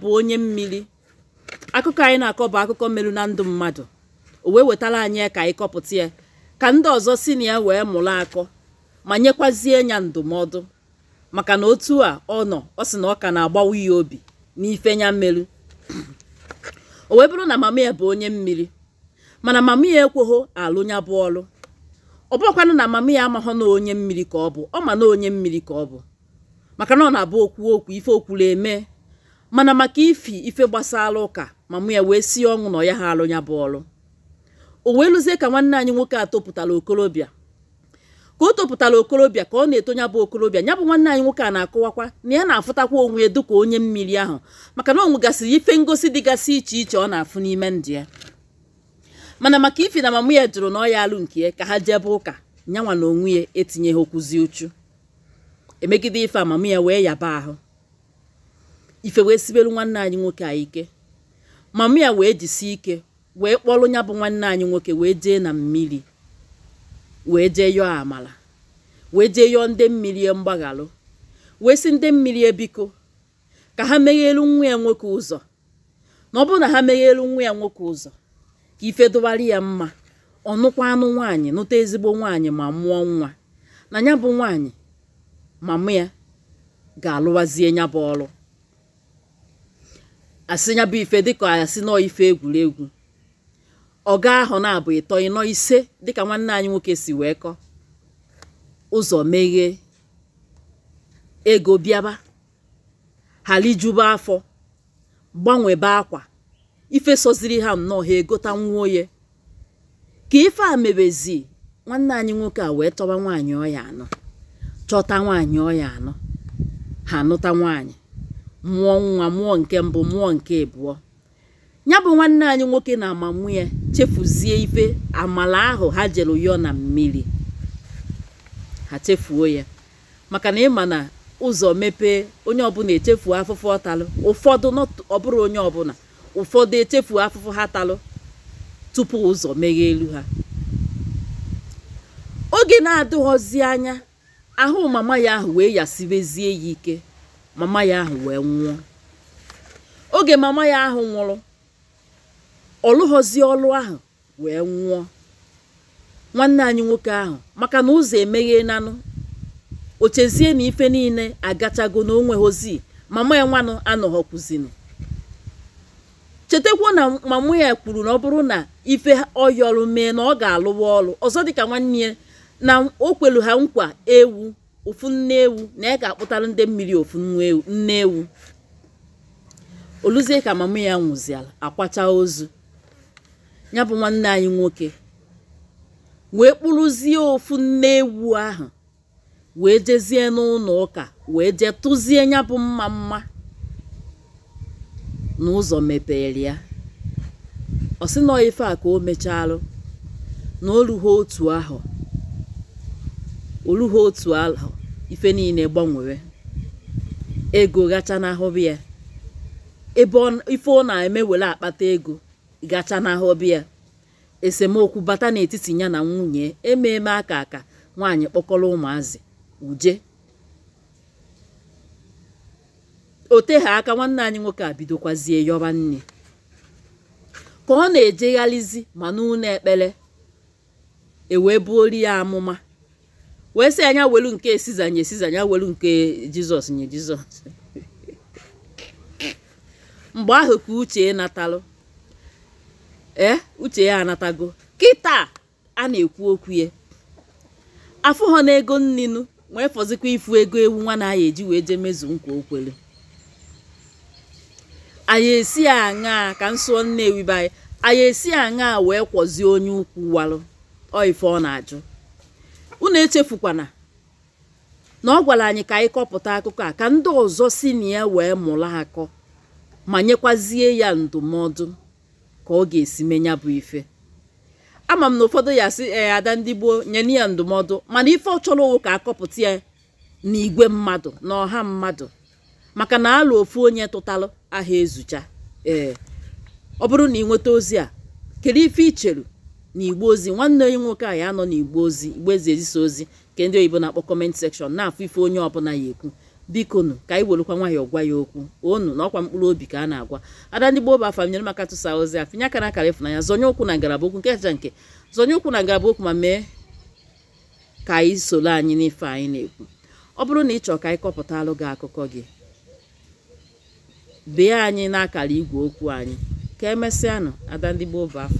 bụ onye mmiri akụkọ anyị na-akọ bụ akụkọ meru na ndụ mmadụ o wee wetara anyị ya ka anyị kọpụta ya ka ndị ọzọ si na ya wee mụrụ akọ ma nyekwazie ya ndụmọdụ maka na otu a ọ nọ ọ sị na ọ ka na-agbawa ya obi n'ife ya meru o wee bụrụ na mama ya bụ onye mmiri mana mama ya ekweghọ alụ ya bụ ọlụ ọ bụrọkwanụ na mama ya amaghọ na onye mmiri ka ọ bụ ọ ma na onye mmiri ka ọ bụ maka na ọ na-abụ o kwuo okwu ife o kwuru emee mana maka ifi ife gbasara ụka mama ya wee si ọnwụ na ọ yaha alụ ya bụ ọrụ o wee luzie ka nwanne anyị nwoke a topụtara okorobịa ka o topụtara okorobịa ka ọ na-eto ya bụ okorobịa ya bụ nwanne anyị nwoke a na-akọwakwa na ya na-afụtakwa onwe ya dịka onye mmiri ahụ maka na o nwegasịrị ife ngosi dịgasị iche iche ọ na-afụ n'ime ndụ ya mana maka ifi na mama ya jụrụ na ọ yaha alụ nke ya ka ha jebe ụka nyanwa na onwe ya etinyeghọkwuzi uchu emegide ife mama ya wee yaba ahụ ife wee sibelu nwanne anyị nwoke a ike mama ya wee jisi ike wee kpọrọ ya bụ nwanne anyị nwoke wee jee na mmiri wee jee yọọ amala wee jee yọọ ndị mmiri mgbaghalụ wee sị ndị mmiri biko ka ha meghelu nwa ya nwoke ụzọ na ọ bụrụ na ha meghere nwa ya nwoke ụzọ ka ife dụwara ya mma ọ nụkwanụ nwaanyị nụta ezigbo nwaanyị ma mụọ nwa na ya bụ nwaanyị mama ya ga-alụwazie ya bụ ọrụ a sị ya bụ ife dịka a sị nnọọ ife egwuregwu ọ gaghọ ọnwa abụọ ịtọ ịnọ ise dịka nwanne anyị nwoke si wee kọọ ụzọ meghee ego bịaba ha rijuba afọ gbanwebe akwa ife sọziri ha nnọọ ha egota nwa oge ka ife a mebezi nwanne anyị nwoke a wee chọba nwaanyị ọ ya-anụ chọta nwaanyị ọ ya-anụ ha anụta nwaanyị mụọ nwa mụọ nke mbụ mụọ nke abụọ ya bụ nwanne anyị nwoke na mama ya chefuzie ife amala ahụ ha jere yọọ na mmiri ha chefuo ya maka na ị ma na ụzọ mepee onye ọbụla echefuo afụfụ ọ talụ ụfọdụ not ọ bụrọ onye ọbụla ụfọdụ echefuo afụfụ ha talụ tupu ụzọ megheelu ha oge na-adịghọzi anya ahụ mama ya ahụ wee yasibezie ya ike mama ya ahụ wee nwụọ oge mama ya ahụ nwụrụ ọ lụghọzie ọlụ ahụ wee nwụọ nwanne anyị nwoke ahụ maka na ụzọ emeghenanụ o chezie na ife niile agachago na o nweghọzi mama ya nwanụ anọghọkwuzinu chetakwa na mama ya kwuru na ọ bụrụ na ife ọ yọrụ mee na ọ ga-alụwa ọlụ ọzọ dịka nwanne ya na o kwelu ha nkwa ewu ofu nne ewu na ya ga-akpụtara ndị mmiri ofu nne ewu oluzie ka mama ya nwụziala akwacha ozu ya bụ nwanne anyị nwoke wee kpụrụzie ofu nne ewu ahụ wee jezie n'ụnọ ụka wee jee tụzie ya bụ mmamma na ụzọ mepere ya ọ sị na ọ ife a ka o mechalụ na o rughị otu ahụ o rughị otu ahụ ife niile gbanwere ego gachanahụbe ya ebe ọ- ife ọ na-eme were akpata ego gachanahụbe ya esemokwu bata n'etiti ya na nwunye ememe aka aka nwaanyị kpọkọrọ ụmụazị uje o teghị aka nwanne anyị nwoke a bidokwazie yọba nne ka ọ na-ejegharịzi ma n'ụnọ ekpere e wee buoro ya amụma wee sị nya welu nke siza nye siza nya welu nke jizọs nye jizọs mgbe ahụ ka uche natalụ ee uche ya anatago kịta a na-ekwu okwu ya afụ ha na ego nni nụ wee fọzikwa ịfụ ego ewu nwa na ya eji wee jee mezu nkwa o kwele anyị esi aṅaa ka m sụọ nnewi be anyị anyị esi aṅaa wee kwọzie onye ukwu walụ ọ ife ọ na-ajụ unu echefukwana na ọ gwara anyị ka anyị kọpụta akụkọ a ka ndị ọzọ si na ya wee mụrụ akọ ma nyekwazie ya ndụmọdụ ka ọ ga-esi mee ya bụ ife ama m na ụfọdụ ya-asị ee ada ndị gboo nyenụ ya ndụmọdụ mana ife ọ chọrọ ọ wụ ka a kọpụta ya n'igwe mmadụ na ọha mmadụ maka na alo ofu onye tụtalụ aha ezucha ee ọ bụrụ na ị nweta ozi a kedu ife i chelu na igbe ozi nwanne anyị nwoke a ya-anọ na igbe ozi igbe e si ezisa ozi nke ndị oyibo na-akpọ comment section na-afụ ife onye ọbụla ya-ekwu bikonụ ka anyị welukwa nwayọọ gwa ya okwu ọnụ na ọkwa mkpụrụ obi ka a na-agwa ada ndị gboo bụ afa m nyere m aka tụsaa ozi a pịnye aka na akara ịfụnanya zonye ụkwụ na ngalaba okwu nke kacha nke zonye ụkwụ na ngalaba okwu ma mee ka anyị soro anyị n'ife anyị na-ekwu ọ bụrụ na ị chọọ ka anyị kọpụtalụ gị akụkọ gị bee anyị n'akara igwe okwu anyị ka emesịanụ ada ndị gboo bụ afa